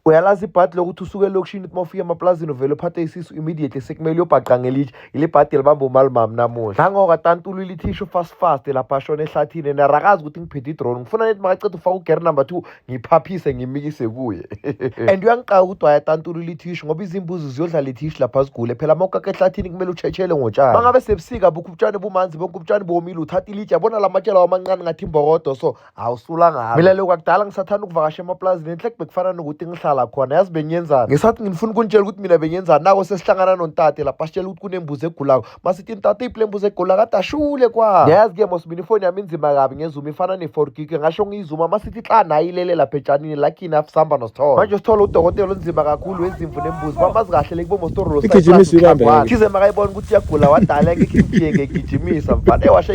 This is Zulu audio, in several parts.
uyalazi ibhadi lokuthi usuke elokishini ukuthi uma ufika emaplazini uvele uphathe isisu immediately sekumele uyobhaqa ngelitshe yile bhadi elibamba umalimami namuhla nangoka tantulu ilithisho fast fast lapha ashona ehlathini and arakazi ukuthi ngiphethe idrone ngifuna nethi makaceda ufaka ugere number two ngiphaphise ngimikise kuye and uyangiqaka ukuthi wayatantulu ilithisho ngoba izimbuzi ziyodlala ithisho lapha zigule phela uma ukaka ehlathini kumele utshetshelwe ngotshani mangabe sebusika bukho ubutshani bumanzi bonke ubutshani bomile uthatha ilitshe yabona la matshela wamancane ngathi imbokodo so a wu sulangalo mina loko akudala ngisathanda ukuvakasha emapulazini enhle bekufana nokuthi ngihlala khona yazi bengiyenzani ngesathi ngifuna ukunitshela ukuthi mina bengiyenzani nako sesihlangana nontate lapha sitshela ukuthi kunembuzi egulako masithi ntate iphi le mbuzi egula kade ashule kwa niyazi ke mosibini ifoni yami inzima kabi ngezuma ifana ne-four gig ngasho ngiyizuma masithi xa nayo ilele lapha etshanini lakini afisihamba nosithole manje usithole udokotela onzima kakhulu wezimvu nembuzi bamazi kahle le kubomostorolothize makayibona ukuthi iyagula wadala ngekhe ngigijimisa mfana ewasha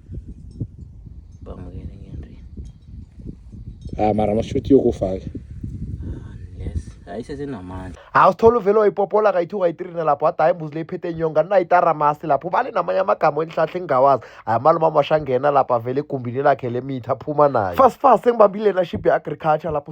Bamukele ngento. Ah mara mashuthi yokufaka. ayisesenamandla hawu sithola uvele wayipopola kayi-two kayi-three nalapho wada hayi imbuzi leyiphethe inyonga ninayitaramaste lapho ubale namanye amagama elihlahle engingawazi hayi amalume amashangena lapho avele egumbini lakhe lemitha aphuma nayo fast fast engibambile naship ye-agriculture lapho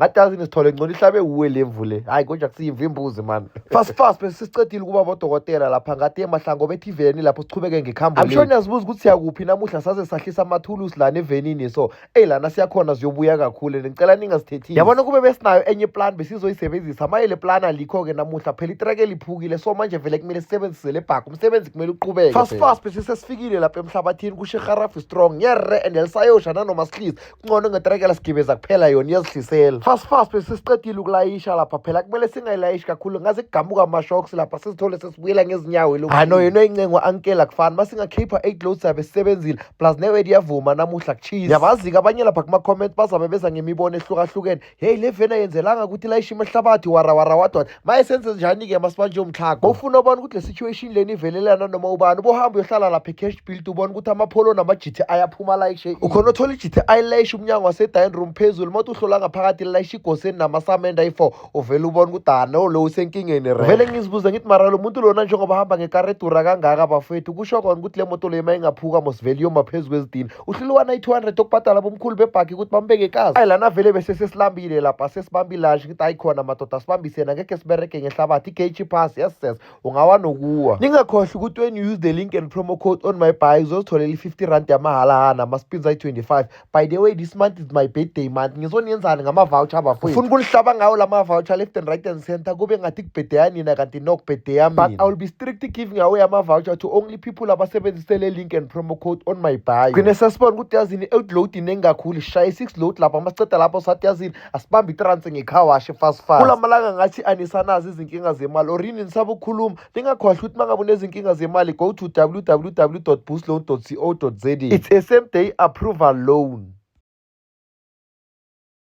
ngadazi ngisithole ngcono ihlabe wuwe le mvu le hhayi konje akusiyimvu imbuzi mani fast fast bese sisicedile ukuba bodokotela lapha ngathi emahlango bethi iveni lapho siqhubeke ngekhambo amsho niyazibuza ukuthi siyakuphi namuhla saze sahlisa amathulusi lana evenini so eyi lana siyakhona ziyobuya kakhulu and ngicela ningasithethisi yabona kube besinayo enye plan besizoyisebenzisa maye le plan alikho-ke namuhla phela itrake liphukile so manje vele kumele sisebenzise le bhakho umsebenzi kumele uqhubeke fast fast bese sesifikile lapha emhlabathini kushe harafi strong ngiyarre and elisayosha nanoma sihlisi ngcono ngetrekela sigibeza kuphela yona iyazihlisela fast fast bese siqedile ukulayisha lapha phela kumele singayilayishi kakhulu ngaze kugamuka ama-shocks lapha sizithole sesibuyela ngezinyawo lo hano yena incengo ankela kufana masingakhipha eight loads sabe sisebenzile plus newedi yavuma namuhla kuchisa yabazi-ke abanye lapha kuma-comment bazabe beza ngemibono ehlukahlukene heyi le veni ayenzelanga ukuthi layishe imehlabathi warawara wadwana maye senze njani-ke masibanje umtlhago bowufuna ubona ukuthi le situation leni ivelelana noma ubani ubohambe uyohlala lapha e-cash build ubona ukuthi amapholo nama-gti aphuma layishe ukhona othola i-gti layishe umnyango wase-dying room phezulu uma uthi uhlola ngaphakathi lilayishe igoseni namasamenda i-four uvele ubona ukuthi ano lo usenkingeni re vele ngizibuze ngithi mara lo muntu lona njengoba hamba ngekaredura kangaka bafethu kusho kona ukuthi le moto leyo uma ingaphuka mosivele iyoma phezu kwezidini uhlulwana i-200 okubhadala bomkhulu bebhagi ukuthi bambeke ikazi ayi lana vele bese sesilambile lapha sesibambile lashi ngithi ayi khona madoda sibambise yena ngekhe siberege ngehlabathi i-gage pass yes ses ungawa nokuwa ningakhohlwa ukuthi when you use the link and promo code on my buy uzozitholela i-50 rand yamahhala hana ama-spins ayi-25 by the way this month is my birthday month ngizoniyenzani ngama-voucher abafowethu ufuna ukunihlaba ngawo la ma-voucher left and right and center kube ngathi kubhedeya nina kanti nokubhedeya mina but i will be strict giving away ama-voucher to only people abasebenzise le link and promo code on my bio gcine sesibona ukuthi yazini i-outload iningi kakhulu ishaye i-six load lapho masiceda lapho sathi yazini asibambe itranse ngekhawashe fast fast kula malanga ngathi anisanazi izinkinga zemali or yini nisaba ukukhuluma ningakhohlwa ukuthi uma ngabe unezinkinga zemali go to www boostloan co za it's a same day approval loan